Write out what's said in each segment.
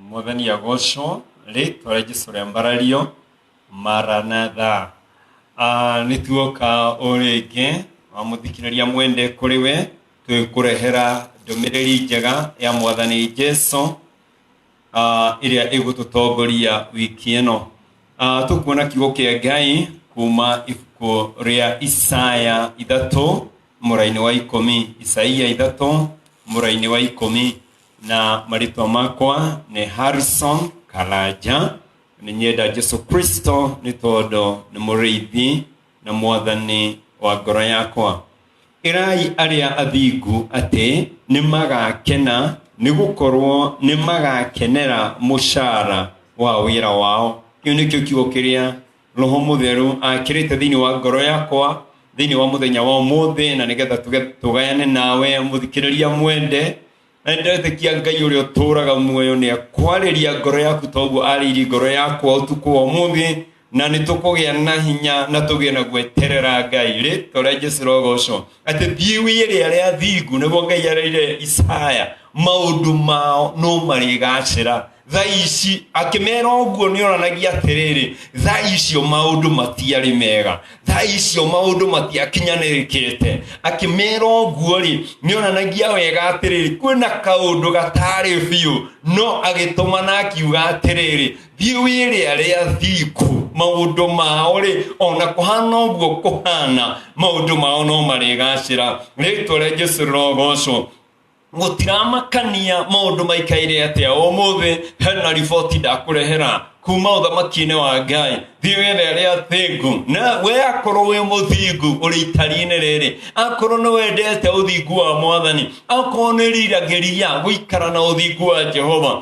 Mwathani agocwo rĩtwa rĩa Jesu rĩambarario maranatha Ah, nĩ tuoka o rĩngĩ wa mũthikĩrĩria mwende kũrĩ we twĩkũrehera ndũmĩrĩri njega ya mwathani Jesu ah, ĩrĩa ĩgũtũtongoria wiki ĩno Ah, tũkuona kiugo kĩa ngai kuma ibuku rĩa isaya ithatũ mũrainĩ wa ikũmi isaia ithatũ mũrainĩ wa ikũmi na marĩtwa makwa nĩ harrison karanja nĩ nyenda jesu kristo nĩ tondũ nĩ mũrĩithi na mwathani wa ngoro yakwa ĩrai arĩa athingu atĩ nĩ magakena nĩ gũkorwo nĩ magakenera mũcara wa wĩra wao kĩu nĩkĩo kiugo kĩrĩa roho mũtheru akĩrĩte thĩinĩ wa ngoro yakwa thĩinĩ wa mũthenya wa ũmũthĩ na nĩgetha tuge- tũgayane nawe mũthikĩrĩria mwende na nĩndĩretĩkia ngai ũrĩa ũtũũraga muoyo nĩ akwarĩria ngoro yaku toguo arĩirie ngoro yakwa ũtukũ wa ũmũthĩ na nĩ tũkũgĩa na hinya na tũgĩe na gweterera ngai rĩtwa rĩa jesu rogocwo atĩ thiwi ĩrĩa rĩa thingu nĩguo ngai arĩire isaya maũndũ mao no marĩgacĩra tha ici akĩmera ũguo nĩ onanagia atĩrĩrĩ tha icio maũndũ matiarĩ mega tha icio maũndũ matiakinyanĩrĩkĩte akĩmera ũguo rĩ nĩ onanagia wega atĩrĩrĩ kwĩna kaũndũ gatarĩ biũ no agĩtũma na akiuga atĩrĩrĩ thiĩ wĩre arĩa thiku maũndũ mao rĩ ona kũhana ũguo kũhana maũndũ mao no marĩgacĩra rĩtwa rĩa jesu rĩrogocwo mũtiramakania maũndũ maikaire atĩa ũmũthĩ hena riboti ndakũrehera kuma ũthamaki-inĩ wa ngai thiĩ wethe arĩa athingu na we akorwo wĩ mũthingu ũrĩ itari-inĩ rĩrĩ akorwo nĩ wendete ũthingu wa mwathani akorwo nĩ riragĩria gũikara na ũthingu wa jehova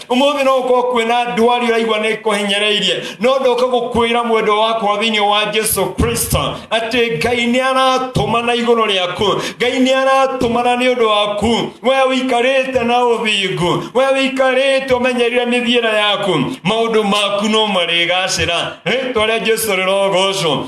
umuthi no ukorwo kwina ndwari uraigua ni kuhinyireirie no ndoka gukwira mwendo wakwa thiini wa jesu kristo ati ngai ni aratumana iguru riaku ngai ni aratumana ni undu waku we wikarite na uthingu we wikarite umenyerire mithiira yaku maundu maku no marigacira ritwa ria jesu rirogocwo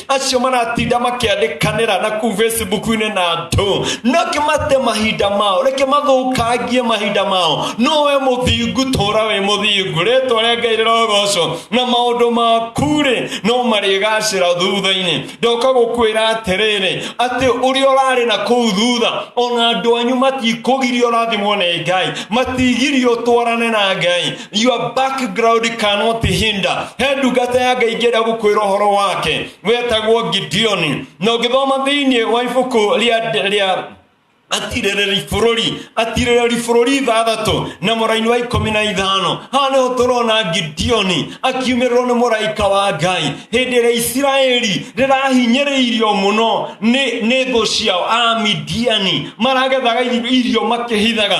acio maratinda makiandikanira na kuu facebook-inĩ na andũ nake mate mahinda mao reke mathũkangie mahinda mao no we mũthingu tũra wĩ mũthingu rĩtwa rĩa ngai rĩrogocwo na maũndũ maku-rĩ no marĩgacĩra thutha-inĩ ndoka gũkwĩra atĩrĩrĩ atĩ ũrĩa ũrarĩ na kũu thutha ona andũ anyu matikũgiria ũrathimwo nĩ ngai matigiria ũtwarane na ngai your background cannot hinder he ndungata ya ngai ingĩenda gũkwĩra ũhoro wake wetagwo gideoni na ũngĩthoma thĩinĩ wa ibuku rĩa rĩa atirĩrĩri bũrũri atirĩrĩri bũrũri ithathatũ na mũraini wa ikũmi na ithano haha nĩho tũrona gideoni akiumĩrĩrwo nĩ mũraika wa ngai hĩndĩ ĩrĩa isiraeli rĩrahinyĩrĩirio mũno nĩ nĩ thũ ciao amidiani maragethaga irio makĩhithaga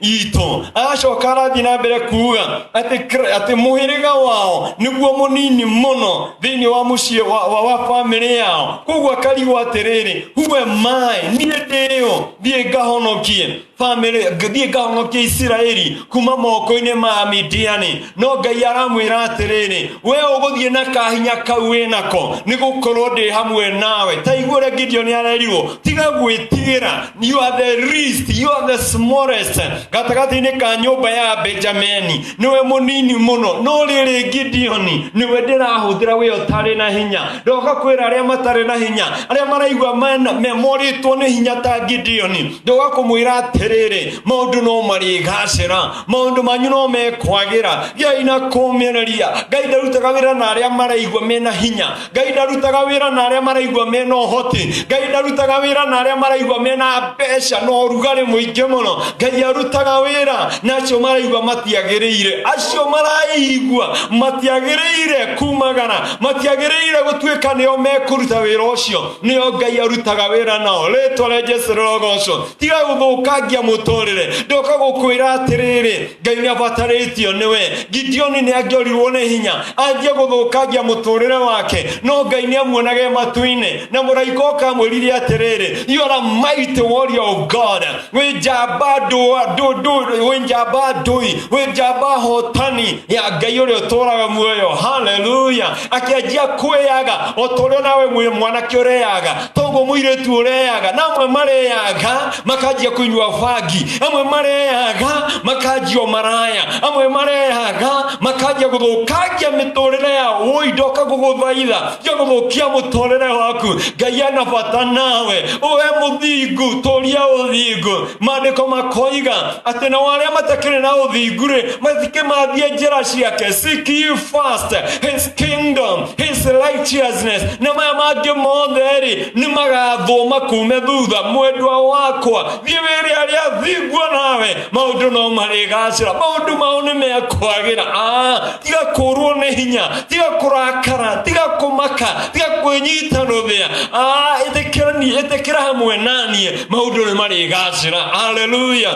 itũ agacoka arathiĩ na mbere kuuga atĩ kr- atĩ mũhĩrĩga wao nĩguo mũnini mũno thĩinĩ wa mũciĩ wa, wa, wa bamĩrĩ yao koguo akarigwo atĩrĩrĩ huwe maĩ niĩ ndĩũ thiĩ ngahonokie bamĩrĩ ng- thiĩ ngahonokie isiraeli kuma moko-inĩ ma midiani no ngai aramwĩra atĩrĩrĩ we ũgũthiĩ na kahinya kau wĩ nako nĩ gũkorwo ndĩ hamwe nawe ta igũre gideoni arerirwo tiga gwĩtigĩra You are the least, you are the smallest. Gatagatĩ-inĩ ka nyũmba ya Benjamini nĩwe mũnini mũno, no rĩrĩ Gideoni nĩwe ndĩrahũthĩra wĩ ũtarĩ na hinya. Ndoka kwĩra arĩa matarĩ na hinya, arĩa maraigua mena- me- morĩtwo nĩ hinya ta Gideoni, ndoka kũmwĩra atĩrĩrĩ, maũndũ no marĩgacĩra, maũndũ manyu no mekwagĩra, gĩai na kũmĩrĩria. Ngai ndarutaga wĩra na arĩa maraigua mena hinya, ngai ndarutaga wĩra na arĩa maraigua mena ũhoti ngai ndarutaga wĩra na arĩa maraigua mena mbeca na ũrugarĩ mũingĩ mũno ngai arutaga wĩra na acio maraigua matiagĩrĩire acio maraigua matiagĩrĩire kumagara matiagĩrĩire gũtuĩka nĩo mekũruta wĩra ũcio nĩo ngai arutaga wĩra nao rĩtwa rĩa jesu rĩrogocwo tiga gũthũkangia mũtũrĩre ndoka gũkwĩra atĩrĩrĩ ngai nä abatarĩtio nĩwe gideoni nä angĩorirwo nĩ hinya anjie gũthũkangia mũtũrĩre wake no ngai nĩ amuonaga e matu-inĩ na mũraika ũkamwĩrire atĩrĩrĩ you are a mighty warrior of god wĩ njamba ndũa- ndũ- ndũ- wĩ njamba ndũi wĩ njamba hotani ya ngai ũrĩa ũtũraga muoyo haleluya akĩanjia kwĩyaga o ta ũrĩa nawe mwĩ mwanake ũreyaga toguo muiritu ureaga na amwe mareaga makanjia kunyua bangi amwe mareaga makanjia maraya amwe mareaga makanjia guthukangia miturire ya woi ndoka guguthaitha ja guthukia muturire waku ngai ana bata nawe uwe muthingu turia uthingu maandiko makoiga ati na waria matakiri na uthingu ri mathike mathie njira ciake seek ye first his kingdom, his righteousness, na maya mangĩ mothe rĩ nĩ magathũma kume thutha mwendwa wakwa thiĩ wĩre arĩa thingwo nawe maũndũ no marĩgacĩra maũndũ mao nĩ mekwagĩra Ah, tiga kũrwo nĩ hinya tiga kũrakara tiga kũmaka tiga kwĩnyita rũthĩa Ah, ĩtĩkĩra niĩ- ĩtĩkĩra hamwe naniĩ maũndũ nĩ marĩgacĩra haleluya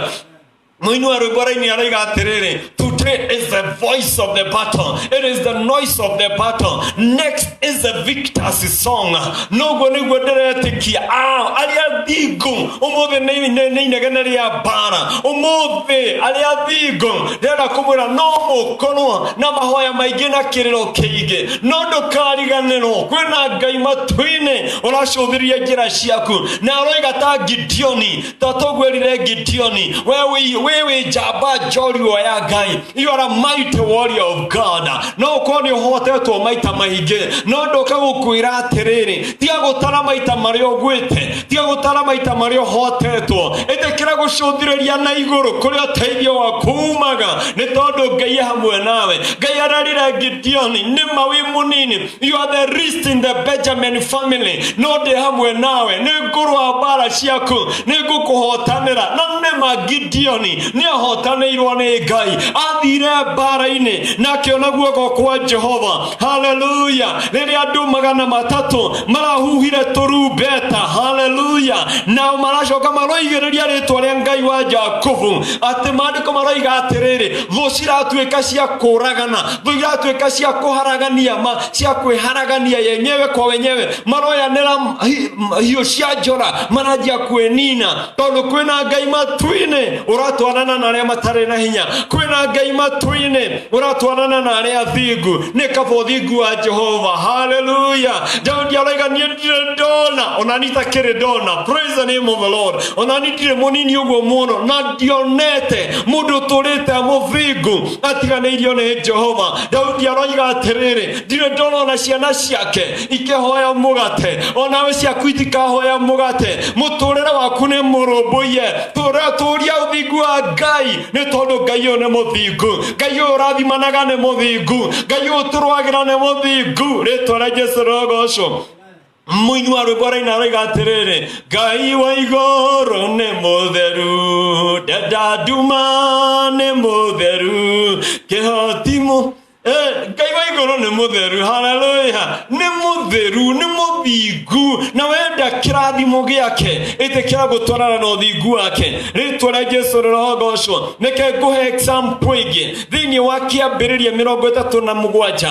mũinua rwĩmbo raini aroiga atĩrĩrĩ today is the voice of the battle it is the noise of the battle next is the victor's song noguo nĩguo ndĩretĩkia ao arĩa thingu ũmũthĩ nĩ nĩ- nĩ inegene rĩa mbara ũmũthĩ arĩa thingu ndĩrenda kũmwĩra no mũkorwo na mahoya maingĩ na kĩrĩro kĩingĩ no ndũkariganĩrwo kwĩna ngai matu-inĩ ũracũthĩrĩria njĩra ciaku na aroiga ta gideoni totogwirire gideoni wewe wewe njamba njorua ya ngai you are a mighty warrior of god no ũkorwo nĩ ũhotetwo maita maingĩ no ndoka gũkwĩra atĩrĩrĩ tiga gũtara maita marĩa ũgwĩte tiga gũtara maita marĩa ũhotetwo ĩtĩkĩra gũcũthĩrĩria na igũrũ kũrĩa ũteithio waku umaga nĩ tondũ ngai e hamwe nawe ngai ararire gideoni nĩma wĩ mũnini You are the least in the Benjamin family. No ndĩ hamwe nawe. Nĩ ngũrũa mbara ciaku. Nĩ ngũkũhotanĩra. Na nĩ ma Gideoni nĩ ahotanĩirwo nĩ Ngai. Athire mbara-inĩ na akĩona guoko kwa Jehova. Haleluya. Rĩrĩa andũ magana matatũ marahuhire tũrumbeta. Haleluya. Nao maracoka maroigĩrĩria rĩtwa rĩa Ngai wa Jakubu. Atĩ maandĩko maroiga atĩrĩrĩ, thũ ciratuĩka cia kũũragana Thũ iratuĩka cia kũharagania ma cia kwĩharagania yenyewe kwa wenyewe, maroyanĩra hi- m- hiũ cia njora, maranjia kwĩnina, tondũ kwĩna Ngai matu-inĩ ũratwarana na arĩa matarĩ na hinya, kwĩna Ngai matu-inĩ ũratwarana na arĩa athingu, nĩ kaba ũthingu wa Jehova. Haleluya! Daudi aroiga niĩ ndirĩ ndona, ona niĩ itakĩrĩ ndona. Praise the name of the Lord. Ona niĩ ndirĩ mũnini ũguo mũno, na ndionete mũndũ ũtũrĩte mũthingu atiganĩirio nĩ jehova daudi aroiga atĩrĩrĩ ndirĩ ndorona ciana ciake ikĩhoya mũgate onawe ciaku itikahoya mũgate mũtũrĩre waku nĩ mũrũmbũiye tũria ũthingu wa ngai nĩ tondũ ngai ũyũ nĩ mũthingu ngai ũyũ ũrathimanaga nĩ mũthingu ngai ũyũ tũrwagĩra nĩ mũthingu rĩtwa rĩa jesu rogocwo Mũinua rwĩmbo raina aroiga atĩrĩrĩ ngai wa igũrũ nĩ mũtheru ndenda nduma nĩ mũtheru kĩhotimu Eh, ngai wa igũrũ nĩ mũtheru haleluya nĩ mũtheru nĩ mũthingu na wenda kĩrathimo gĩake ĩtĩkĩra gũtwarana na ũthingu wake rĩtwa rĩa jesu rĩrogocwo nĩke ngũhe example ingĩ thĩinĩ wa kĩambĩrĩria mĩrongo ĩtatũ na mũgwanja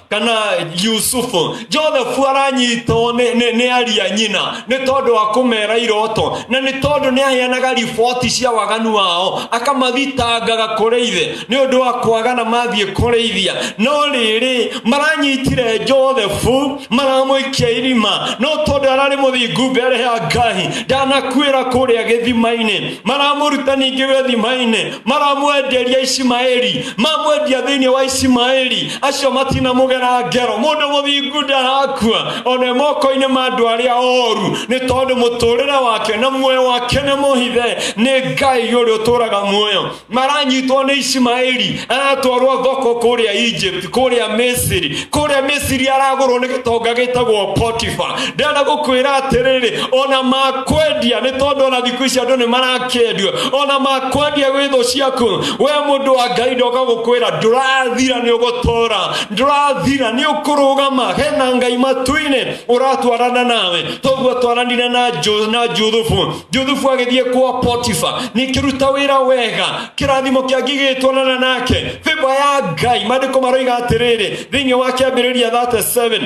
kana yusufu joseph aranyitwo nĩ- nĩ nĩ aria nyina nĩ tondũ wa kũmera iroto na nĩ tondũ nĩ aheanaga riboti cia waganu wao akamathitangaga kũrĩ ithe nĩ ũndũ wa kwaga na mathiĩ kũrĩithia no rĩrĩ maranyitire josephu maramũikia irima no tondũ ararĩ mũthingu mbere ya ngai ndanakuĩra kũrĩa gĩthima-inĩ maramũruta ningĩ gĩthima-inĩ maramwenderia ishimaeli mamwendia thĩinĩ wa ishimaeli acio matinamũgera ngero mũndũ mũthingu ndarakua one moko-inĩ ma andũ arĩa oru nĩ tondũ mũtũrĩre wake na muoyo wake nĩ mũhithe nĩ ngai ũrĩa ũtũraga muoyo maranyitwo nĩ ishimaeli aratwarwo thoko kũrĩa egypt kũrĩa misiri kũrĩa misiri aragũrwo nĩ gĩtonga gĩtagwo potifa ndenda gũkwĩra atĩrĩrĩ ona ma kwendia nĩ tondũ ona thikũ ici andũ nĩ marakĩendio ona makwendia gwĩ thũ ciaku we mũndũ wa ngai ndoka gũkwĩra ndũrathira nĩ ũgũtũra ndũrathira nĩ ũkũrũgama hena ngai matu-inĩ ũratwarana nawe toguo twaranire na Ju- na juthubu juthubu agĩthiĩ kwa potifa nĩkĩruta wĩra wega kĩrathimo kĩa ngigĩtwarana nake bĩba ya ngai maandĩko maroiga atĩrĩrĩ thĩinĩ wa kĩambĩrĩria 37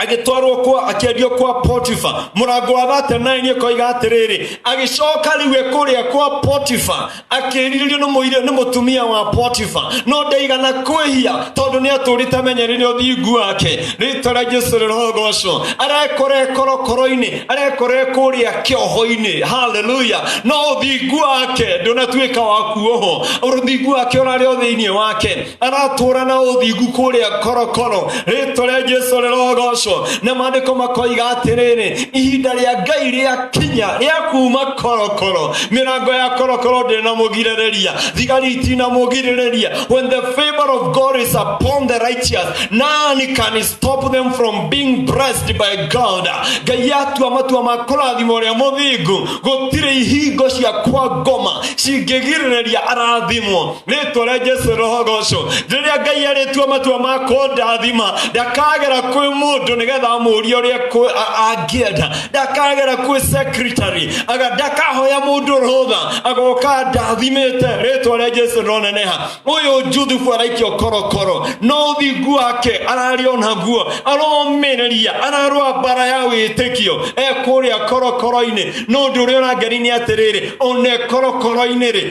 agĩtwarwo kwa akĩendio kwa potifa mũrango wa thate naĩ nĩ koiga atĩrĩrĩ agĩcoka rĩu e kũrĩa kwa potifa akĩrirĩrio nĩ mũirĩ nĩ mũtumia wa potifa no ndaigana kwĩhia tondũ nĩ atũrĩte amenyerire ũthingu wake rĩtwa rĩa jesu rĩrogocwo arekore korokoro-inĩ arekore kũrĩa kĩoho-inĩ haleluya no ũthingu wake ndũnatuĩka wa kuoho ũthingu wake ũrarĩ o thĩinĩ wake aratũra na ũthingu kũrĩa korokoro rĩtwa rĩa jesu rĩrogocwo na maandĩko makoiga atĩrĩrĩ ihinda rĩa ngai rĩa kinya rĩa kuma korokoro mĩrango ya korokoro ndĩrĩ na mũgirĩrĩria thigari itina mũgirĩrĩria when the favor of god is upon the righteous none can stop them from being blessed by god ngai atua matua ma kũrathima ũrĩa mũthingu gũtirĩ ihingo cia kwa ngoma cingĩgirĩrĩria arathimwo rĩtwa rĩa jesu rohogocwo rĩrĩa ngai arĩtua matua ma kũndathima ndakagera kwĩ mũndũ nĩgetha amũrie ũrĩa kwĩ- a- angĩenda ndakagera kwĩ secretary aga ndakahoya mũndũ rũtha agoka ndathimĩte rĩtwa rĩa jesu roneneha ũyũ njuthubu araikio korokoro no ũthingu wake ararĩ onaguo aromĩrĩria ararũa mbara ya wĩtĩkio ekũrĩa korokoro-inĩ no ũndũ ũrĩa ũrangeni nĩ atĩrĩrĩ one korokoro-inĩ rĩ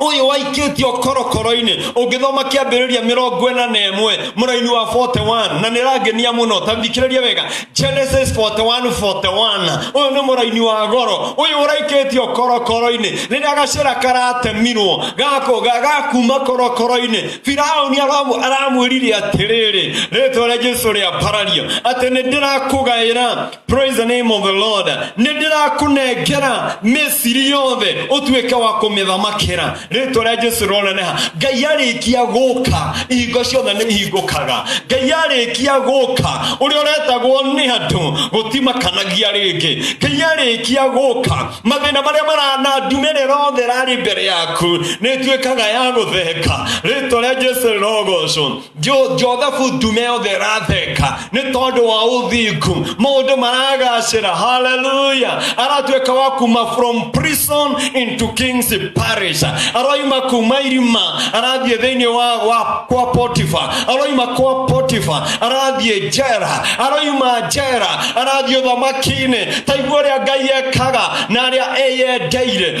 uyu waikitio korokoro-ini ungithoma kiambiriria mirongo ina na imwe muraini wa 41 na nirangenia muno ta thikiriria wega genesis 41 41 uyu ni muraini wa goro uyu uraikitio korokoro-ini riria gacira karatemirwo gako ga- gakuma korokoro-ini firauni aramu- aramwirire atiriri ritwa ria jesu riaparario ati nindirakugayira Praise the name of the Lord. Nĩ ndĩrakũnengera mĩciri yothe ũtuĩke wa kũmĩthamakĩra rĩtwa rĩa Jesu roneneha Ngai arĩkia gũka ihingo ciothe nĩ ihingũkaga Ngai arĩkia gũka ũrĩa ũretagwo nĩ andũ gũtimakanagia rĩngĩ Ngai arĩkia gũka mathĩna marĩa maranandumĩrĩra rothe rarĩ mbere yaku nĩ tuĩkaga ya gũtheka rĩtwa rĩa Jesu rogocwo Jo- jothabu ndume yothe ĩratheka nĩ tondũ wa ũthingu maũndũ maragacĩra haleluya aratuĩka wa kuma from prison into kings parish aroima kuma irima arathiĩ thĩinĩ wa, wa kwa potifa aroima kwa potifa arathiĩ njera aroima njera arathiĩ ũthamaki-inĩ taigua ũrĩa ngai ekaga na arĩa eyendeire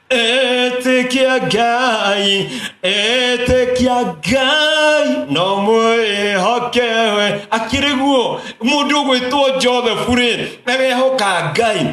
Etĩkia Ngai, etĩkia Ngai, no mwĩhoke we. Akĩrĩ guo, mũndũ ũgwĩtwo Joseph rĩ, arehoka Ngai.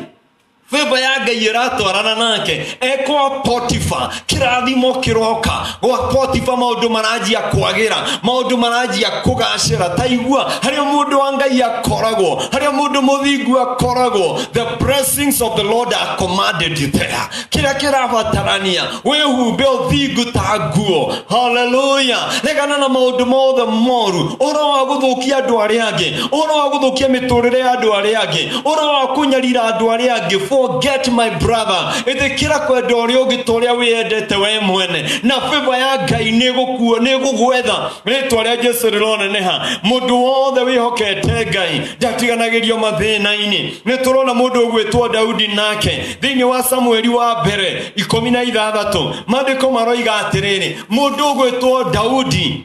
Baba ya Ngai ĩratwarana nake, ekwa Potifa, kĩrathimo kĩroka. gwakotiba maundu maranjia kwagira maundu maranjia kugacira taigua haria mundu wa ngai akoragwo haria mundu muthingu akoragwo the blessings of the lord are commanded you there kira kirabatarania wihumbe uthingu ta nguo haleluya regana na maundu mothe moru oro wa guthukia andu aria angi oro wa guthukia miturire ya andu aria angi oro wa kunyarira andu aria angi forget my brother ĩtĩkĩra kwenda ũrĩa ũngĩ ta ũrĩa wĩyendete we mwene na bĩba ya ngai nĩ ĩgũkuo nĩ ĩgũgwetha rĩtwa rĩa jesu rĩroneneha mũndũ wothe wĩhokete ngai ndatiganagĩrio mathĩna-inĩ nĩ tũrona mũndũ ũgwĩtwo daudi nake thĩinĩ wa samueli wa mbere ikũmi na ithathatũ maandĩko maroiga atĩrĩrĩ mũndũ ũgwĩtwo daudi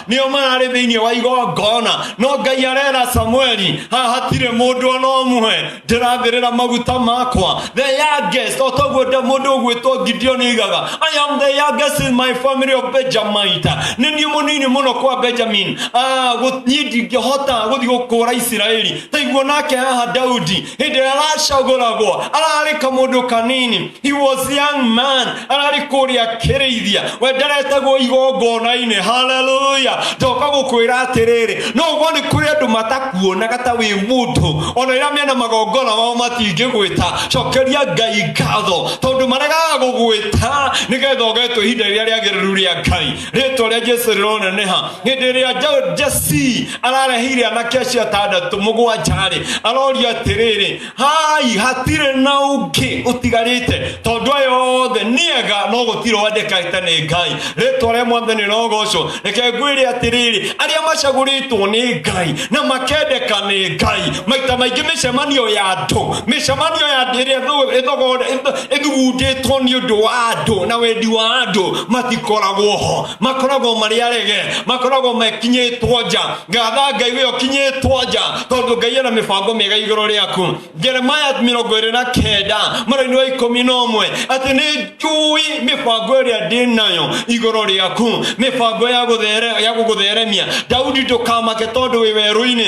nĩo mararĩ thĩinĩ wa igongona no ngai arera samueli haha hatirĩ mũndũ ona ũmwe ndĩrathĩrĩra maguta makwa the youngest o toguo nda mũndũ ũgwĩtwo gideon aigaga i am the youngest in my family of benjamite nĩ niĩ mũnini mũno kwa benjamin Ah, gũ- niĩ ndingĩhota gũthiĩ gũkũra isiraeli taiguo nake haha daudi hĩndĩ ĩrĩa aracagũragwo ararĩ kamũndũ kanini he was young man ararĩ kũrĩa kĩrĩithia we ndaretagwo igongona-inĩ haleluya ndoka gũkwĩra atĩrĩrĩ no ũguo nĩ kũrĩ andũ matakuonaga ta wĩ mũndũ ona ĩrĩa mena magongona mao matingĩgwĩta cokeria ngai ngatho tondũ maregaga gũgwĩta nĩgetha ũgetwo ihinda rĩrĩa rĩagĩrĩru rĩa ngai rĩtwa rĩa jesu rĩroneneha hĩndĩ ĩrĩa jesi arareheire anake acio atandatũ mũgwanja-rĩ aroria atĩrĩrĩ hai hatirĩ na ũngĩ ũtigarĩte tondũ aya othe nĩega no gũtirĩ wandĩkĩte nĩ ngai rĩtwa rĩa mwathani rogocwo reke ngwĩre atĩrĩrĩ arĩa macagũrĩtwo nĩ ngai na makendeka nĩ ngai maita maingĩ mĩcemanio ya andũ mĩcemanio ya andũ ĩrĩa ĩthogore ĩthugundĩtwo nĩ ũndũ wa andũ na wendi wa andũ matikoragwo ho makoragwo marĩ arege makoragwo mekinyĩtwo nja ngatha ngai wĩyo kinyĩtwo nja tondũ ngai ena mĩbango mĩega igũrũ rĩaku jeremaya mĩrongo ĩrĩ na kenda mwena-inĩ wa ikũmi na ũmwe atĩ nĩ njũĩ mĩbango ĩrĩa ndĩ nayo igũrũ rĩaku mĩbango ya gũthere- ya gũgũtheremia daudi ndũkamake tondũ wĩ werũ-inĩ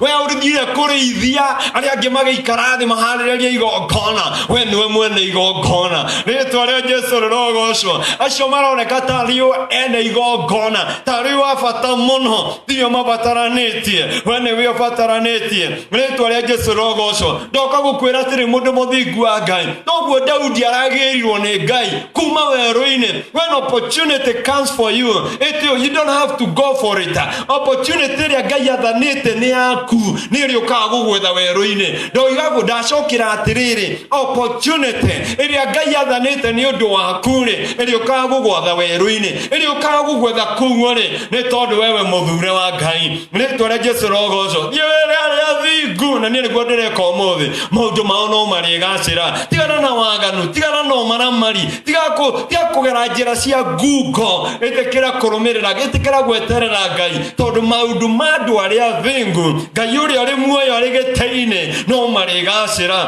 we urugire kurĩithia arĩa angĩ magĩikara thĩ maharĩrĩria igongona we niwe mwene igongona rĩtwa rĩa jesu rĩrogocwo acio maroneka tarĩo ene igongona tarĩo abata mũno tiyo mabataranĩtie we nĩwe ũbataranĩtie rĩtwa rĩa jesu rĩrogocwo ndoka gũkwĩra atĩrĩ mũndũ mũthingu wa ngai noguo daudi aragĩrirwo nĩ ngai kuma werũ-inĩ when opportunity comes for you it, you don't have to go for it opportunity ĩrĩa ngai athanĩte nĩ yaku nĩ ĩrĩ ũkaga gũgwetha werũ-inĩ ndoigagwo ndacokera atĩrĩrĩ opportunity ĩrĩa ngai athanĩte nĩ ũndũ waku rĩ ĩrĩ ũkaga gũgwetha werũ-inĩ ĩrĩ ũkaga gũgwetha kuo rĩ nĩ tondũ wewe mũthure wa ngai nĩ twere jesu rogoco thiĩ wĩra arĩa thingu na niĩ nĩguo ndĩreka ũmũthĩ maũndũ mao no marĩgacĩra tigana na waganu tigana na ũmaramari tiga kũ- tiga kũgera njĩra cia ngungo ĩtĩkĩra kũrũmĩrĩra ĩtĩkĩra gweterera ngai tondũ maũndũ ma andũ arĩa athĩngu ngai ũrĩa ũrĩ muoyo arĩ gĩtĩ-inĩ no marĩgacĩra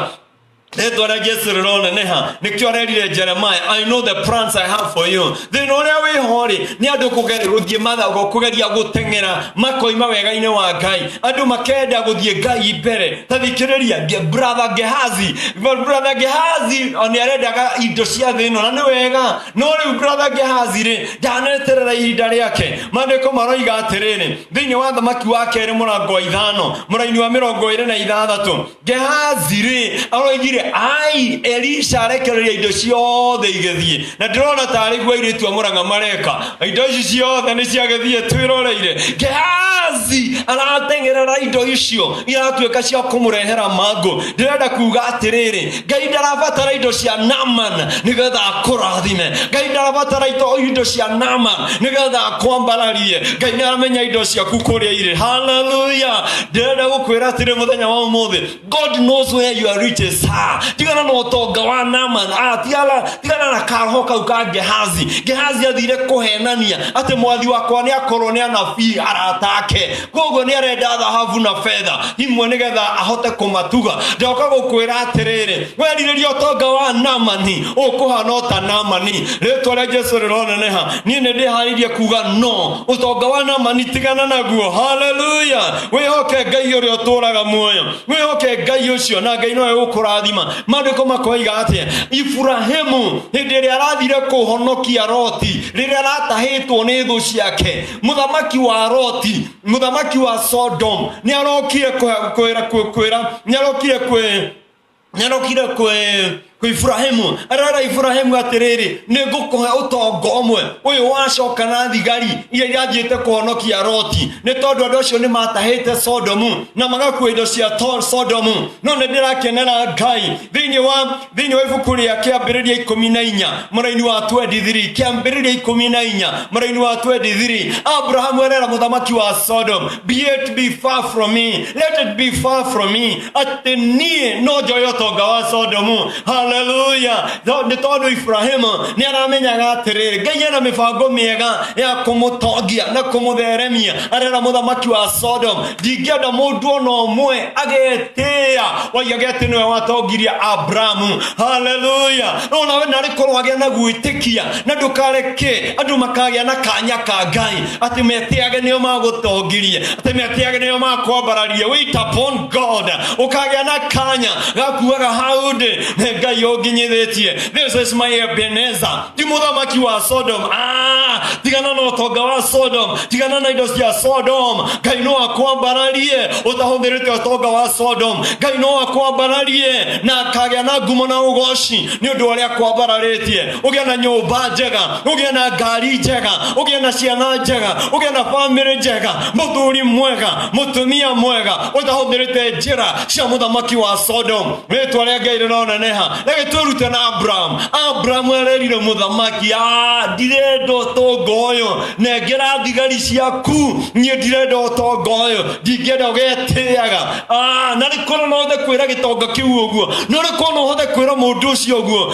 rĩtwa rĩa jesu rĩroneneha nĩkĩo arerire jeremaya i know the plans i have for you thĩna ũrĩa wĩho-rĩ nĩ andũ kũge- gũthiĩ mathago kũgeria gũteng'era makoima wega-inĩ wa ngai andũ makenda gũthiĩ ngai mbere tathikiriria brother gehazi brother gehazi ni arendaga indo cia thä ĩno na nĩ wega no rĩu brother gehazi rĩ ndaneterera ihinda rĩake mandĩko maroiga atĩrĩrĩ thĩinĩ wa thamaki wa kerĩ mũrango wa ithano mũraini wa mĩrongo ĩrĩ na ithathatũ gehazi rĩ aroigire ai elisha arekereria indo ciothe igĩthiĩ na ndĩrona tarĩ gwa irĩtu a mũrang'a mareka Na indo ici ciothe nĩ ciagĩthiĩ twĩroreire gehazi arateng'erera indo icio iratuĩka cia kũmũrehera mangũ ndĩrenda kuga atĩrĩrĩ ngai ndarabatara indo cia naman nĩgetha akũrathime ngai ndarabatara ito- indo cia naman nĩgetha akwambararie ngai nĩaramenya indo ciaku kũrĩa irĩ haleluya ndĩrenda gũkwĩra atĩrĩ mũthenya wa ũmũthĩ god knows where your riches are tigana na ũtonga wa naman ah, tigana, tigana na kaho kau ka gehazi gehazi athire kũhenania atĩ mwathi wakwa nĩ akorwo nĩ anabii arata ake koguo nĩ arenda thahabu na fedha imwe nĩ getha ahote kũmatuga ndoka gũkwĩra atĩrĩrĩ werirĩria ũtonga wa namani ũkũhana ota namani rĩtwa rĩa jesu rĩroneneha niĩ nĩ ndĩharĩirie kuga no ũtonga wa namani tigana naguo haleluya wĩhoke ngai ũrĩa ũtũũraga muoyo wĩhoke ngai ũcio na ngai nowe ũkũrathima maandĩko makoiga atĩa iburahimu hĩndĩ ĩrĩa arathire kũhonokia roti rĩrĩa aratahĩtwo nĩ thũ ciake mũthamaki wa roti mũthamaki wa sodom nĩ arokire kwĩra nĩ arokire kwĩ nĩarokire kwĩ kwĩ iburahimu arera iburahimu atĩrĩrĩ nĩ ngũkũhe ũtongo ũmwe ũyũ wacoka na thigari iria irathiĩte kũhonokia roti nĩ tondũ andũ acio nĩ matahĩte sodomu na magakuo indo cia to- sodomu no nĩ ndĩrakenera ngai thĩinĩ wa thĩinĩ wa ibuku rĩa kĩambĩrĩria ikũmi na inya mũraini wa 23 kĩambĩrĩria ikũmi na inya mũraini wa 23 abrahamu arera mũthamaki wa sodomu Yet be far from me. Let it be far from me. Atĩ niĩ no njoe ũtonga wa Sodomu. Haleluya. Tho- Nĩ tondũ Ibrahimu nĩ aramenyaga atĩrĩrĩ, Ngai ena mĩbango mĩega ya kũmũtongia na kũmũtheremia. Arera mũthamaki wa Sodomu, ndingĩenda mũndũ ona ũmwe agetĩĩa oigage atĩ nĩwe watongirie Abrahamu. Haleluya. No nawe narĩ korwo agĩa na gwĩtĩkia na ndũkareke andũ makagĩa na kanya ka Ngai. Ati metiage nio magutongirie ati metiage nio makwambararie wait upon god ukagĩa na kanya gakuaga hau ndĩ nĩ ngai ũnginyithĩtie this is my ebeneza ti mũthamaki wa sodom ah, tigana na ũtonga wa sodom tigana na indo cia sodom ngai no akwambararie ũtahũthĩrĩte ũtonga wa sodom ngai no akwambararie na akagĩa na ngumo na ũgoci nĩ ũndũ wa ũrĩa akwambararĩtie ũgĩa na nyũmba njega ũgĩa na ngari njega ũgĩa na ciana njega ũgĩa na bamĩrĩ njega mũthuri mwega mũtumia mwega ũtahũthĩrĩte njĩra cia mũthamaki wa sodom rĩtwa rĩa ngai rĩroneneha reke twĩrute na abraham abraham arerire mũthamaki "Ah, ndirenda ũtonga ũyũ nengera thigari ciaku niĩ ndirenda ũtonga ũyũ ndingĩenda ũgetĩaga Ah, na rĩkorwo no ũhote kwĩra gĩtonga kĩu ũguo no rĩkorwo no ũhote kwĩra mũndũ ũcio ũguo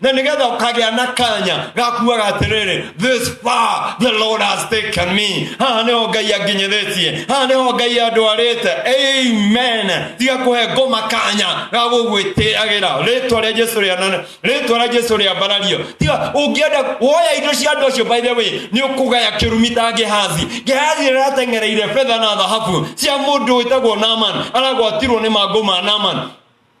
na nigetha ukagĩa na kanya gakuaga atĩrĩrĩ this far the lord has taken me haha nĩho ngai anginyithĩtie haha nĩho ngai andwarĩte amen tiga kũhe ngoma kanya ga gũgwĩtĩagĩra rĩtwa rĩa jesu rĩanane rĩtwa rĩa jesu rĩambarario tiga ũngĩenda woya indo cia andũ acio by the way nĩ ũkũgaya kĩrumi ta gehazi gehazi rĩratengereire betha na thahabu cia mũndũ wĩtagwo naman aragwatirwo nĩ mangũ ma naman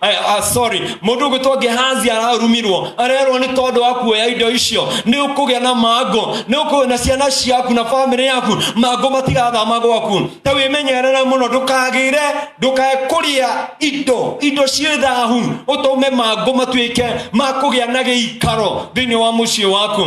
Ay, ah, sorry mundu ugwitwo gehazi ararumirwo arerwo ni tondu wa kuoya indo icio ni ukugia na mango ni ukugia na ciana ciaku na family yaku mango matigathama gwaku ta wimenyerere muno ndukagire ndukekuria indo indo ciĩ thahu utume mango matuike ma kugia na giikaro thiini wa mucii waku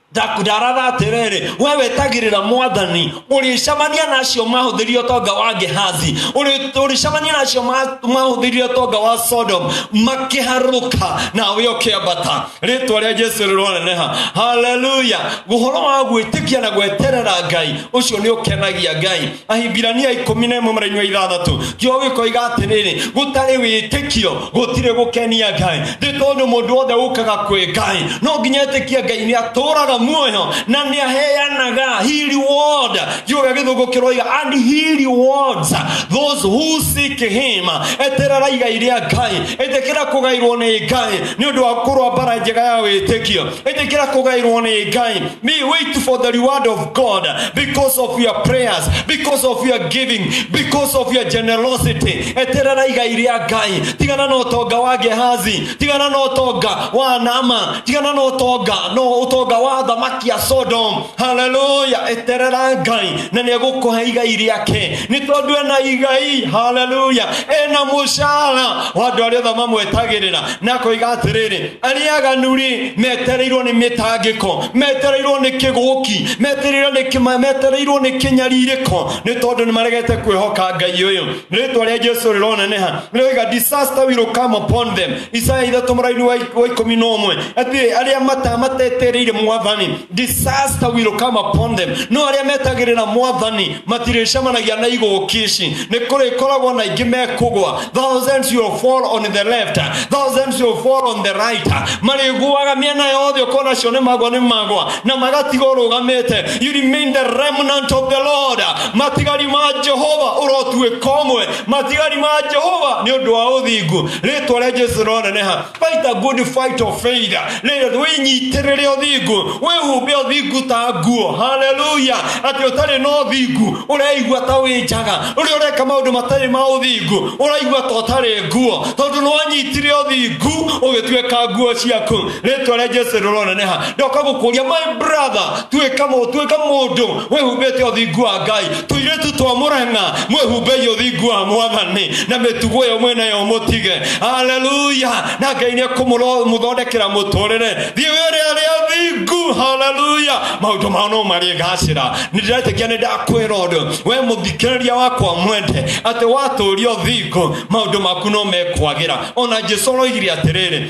ndakudarara atĩrĩrĩ we wetagĩrĩra mwathani ũrĩcemania na acio mahũthĩrire ũtonga wa gehazi Ũrĩ- ũrĩcemania na acio ma- mahũthĩrire ũtonga wa sodom makĩharũka nawe ũkĩambata rĩtwa rĩa jesu rĩroneneha haleluya ũhoro wa gwĩtĩkia na gweterera ngai ũcio nĩ ũkenagia ngai ahibirania ikũmi na ĩmwe mũraini wa ithathatũ kĩo gĩkoiga atĩrĩrĩ gũtarĩ wĩtĩkio gũtirĩ gũkenia ngai nĩ tondũ mũndũ wothe ũkaga kwĩ ngai no nginya etĩkia ngai nĩ atũraga muoyo na nĩ aheanaga he reward kiuga gĩthũngũ kĩroiga and he rewards those who seek him eterera igai rĩa ngai etĩkĩra kũgairwo nĩ ngai nĩ ũndũ wa kũrwa mbara njega ya wĩtĩkio ĩtĩkĩra kũgaĩrwo nĩ ngai me wait for the reward of god because of your prayers because of your giving because of your generosity eterera igai rĩa ngai tigana na ũtonga wa gehazi tigana na ũtonga wa nama tigana na ũtonga no ũtonga wa thamaki ya sodom haleluya eterera ngai na nĩ egũkũhe igai rĩake nĩ tondũ ena igai haleluya ena mũcara wa andũ arĩa othe mamwetagĩrĩra na koiga atiriri ari aganu ri metereirwo ni mitangiko metereirwo ni kiguki metereirwo ni kima metereirwo ni kinyaririko ni tondu ni maregete kwihoka ngai uyu ritwa ria jesu rirona neha riga disaster will come upon them isaya ithatu muraini wa wa ikumi na umwe atiri aria mata matetereire mwathani disaster will come upon them no aria metagirira mwathani matirĩcemanagia na igũũki ici nĩ kũrĩkoragwo na ingĩ mekũgwa thousands will fall on the left thousands will fall on the right marĩguaga mĩena yothe ũkona cio nĩ magwa nĩ magwa na magatiga ũrũgamĩte you remain the remnant of the lord matigari ma jehova ũrotuĩka ũmwe matigari ma jehova nĩ ũndũ wa ũthingu rĩtwa rĩa jesu rĩroneneha Fight a good fight of faith. Rĩrĩa wĩnyitĩrĩre ũthingu, wĩhumbe ũthingu ta nguo. Haleluya! Atĩ ũtarĩ na ũthingu, ũreigua ta wĩ njaga. Ũrĩa ũreka maũndũ matarĩ ma ũthingu, ũraigua ta ũtarĩ nguo. Tondũ nĩ wanyitire ũthingu, ũgĩtuĩka nguo ciaku. Rĩtwa rĩa Jesu rĩroneneha. Ndoka gũkũria, my brother, tuĩka mũndũ mwĩhumbĩte ũthingu wa ngai tũirĩtu twa mũrang'a mwĩhumbei ũthingu wa mwathani na mĩtugo ĩyo mwĩnayo mũtige haleluya na ngai nĩ kũmũthondekera mũtũrĩre thiĩ wĩrĩa rĩa thingu haleluya maũndũ mao no marĩgacĩra nĩ ndĩretĩkia nĩ ndakwĩra ũndũ we mũthikĩrĩria wakwa mwende atĩ watũũria ũthingu maũndũ maku no mekwagĩra ona jesu aroigire atĩrĩrĩ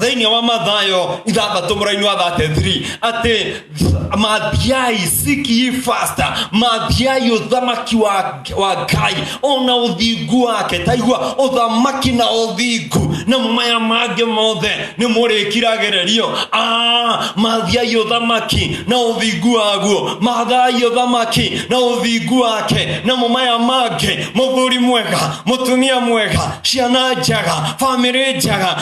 thĩinĩ wa mathayo ithathatũ mũraini wa 33 atĩ mathiai seek ye first mathiai ũthamaki wa, wa ngai ona ũthingu wake taigua ũthamaki na ũthingu na maya mangĩ mothe nĩ mũrĩkiragĩrĩrio Ah, mathiai ũthamaki na ũthingu waguo mathai ũthamaki na ũthingu wake na maya mangĩ mũthuri mwega mũtumia mwega ciana njega bamĩrĩ njega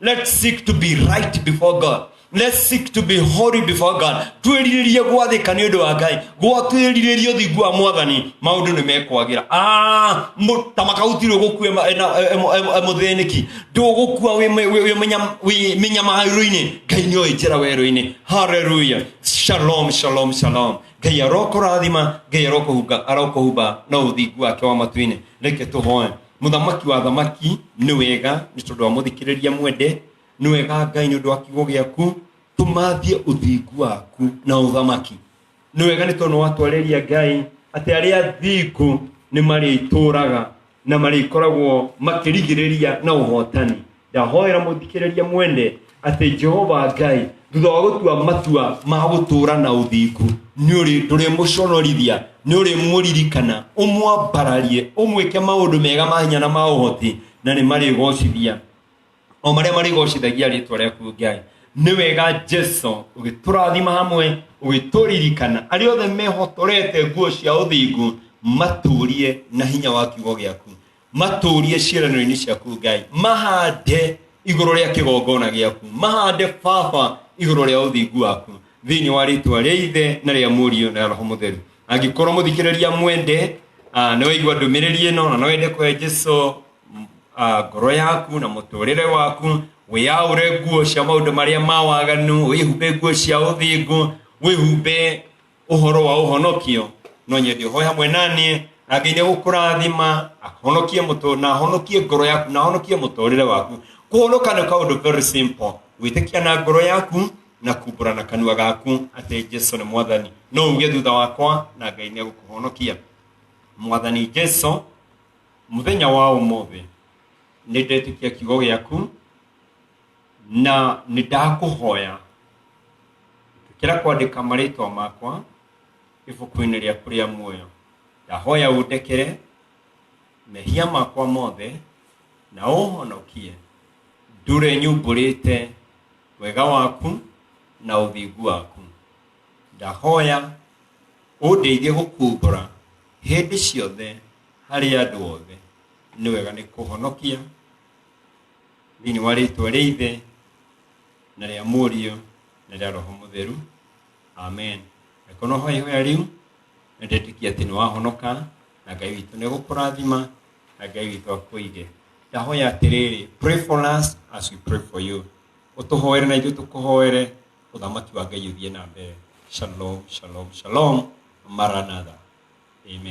Let's seek to be right before God. Let's seek to be holy before God. Twĩrirĩrie gwathĩka nĩ ũndũ wa Ngai. Gwa twĩrirĩrie ũthingu wa Mwathani, maũndũ nĩ mekwagĩra. Ah, mũ- ta makautirwo gũkua ema- ena- emo- emo- emũthĩnĩki. Ndũgũkua wĩ mĩ- wĩ- wĩ mĩnyam- wĩ mĩnyamaro-inĩ. Ngai nĩ oĩ njĩra werũ-inĩ. Hallelujah. Shalom, shalom, shalom. Ngai arokũrathima, Ngai arokũhunga- arokũhumba na ũthingu wake wa matu-inĩ. Reke tũhoe. mũthamaki wa thamaki nĩ wega nĩ tondũ wa mũthikĩrĩria mwende nĩ wega ngai nĩ ũndũ wa kiugo gĩaku tũmathie ũthingu waku na ũthamaki nĩ wega nĩ tondũ watwarĩria ngai atĩ arĩa athingu nĩ marĩtũraga na marĩkoragwo makĩrigĩrĩria na ũhotani ndahoera mũthikĩrĩrie mwende atĩ jehova ngai thutha wa gũtua matua ma gũtũũra na ũthingu nĩ ũrĩ ndũrĩmũconorithia nĩ ũrĩmũririkana ũmwambararie ũmwĩke maũndũ mega ma hinya na ma ũhoti na nĩ marĩgocithia o marĩa marĩgocithagia rĩtwa rĩaku ngai nĩ wega jesu ũgĩtũrathima hamwe ũgĩtũririkana arĩa othe mehotorete nguo cia ũthingu matũrie na hinya wa kiugo gĩaku matũũrie ciĩranĩro-inĩ ciaku ngai mahande igũrũ rĩa kĩgongona gĩaku mahande baba igũrũ rĩa ũthingu waku thĩinĩ wa rĩtwa rĩa ithe na rĩa mũriũ na roho mũtheru angĩkorwo mũthikĩrĩria mwende ah, nĩ waigua ndũmĩrĩri ĩno na no wende kũhe jesu m- ah, ngoro yaku na mũtũrĩre waku wĩyaũre nguo cia maũndũ marĩa ma waganu wĩhumbe nguo cia ũthingu wĩhumbe ũhoro wa ũhonokio no nyende ũhoe hamwe naniĩ na ngai nĩgũkũrathima ahonokie mũtũ na ahonokie ngoro yaku na ahonokie mũtũrĩre waku kũhonoka nĩ kaũndũ very simple gwĩtĩkia na ngoro yaku na kumbũra na kanua gaku atĩ jesu nĩ mwathani no uge thutha wakwa na ngai nĩegũkũhonokia mwathani jesu mũthenya wa ũmũthĩ nĩ ndetĩkia kiugo gĩaku na nĩ ndakũhoya kĩra kwandĩka marĩtwa makwa ibuku-inĩ rĩaku rĩa muoyo ndahoya ũndekere mehia makwa mothe na ũhonokie ndũre nyumbũrĩte wega waku na ũthingu waku ndahoya ũndeithie gũkumbũra hĩndĩ ciothe harĩ andũ othe nĩ wega nĩ kũhonokia thĩinĩ wa rĩtwa rĩa ithe na rĩa mũriũ na rĩa roho mũtheru amen angĩkorwo no hoya ihoya rĩu na ndetĩkia atĩ nĩ wahonoka na ngai witũ nĩ gũkũrathima na ngai witũ akũige ndahoya atĩrĩrĩ pray for us as we pray for you ũtũhoere na ithuĩ tũkũhoere ũthamaki wa ngai ũthiĩ na mbere shalom shalom shalom maranatha amen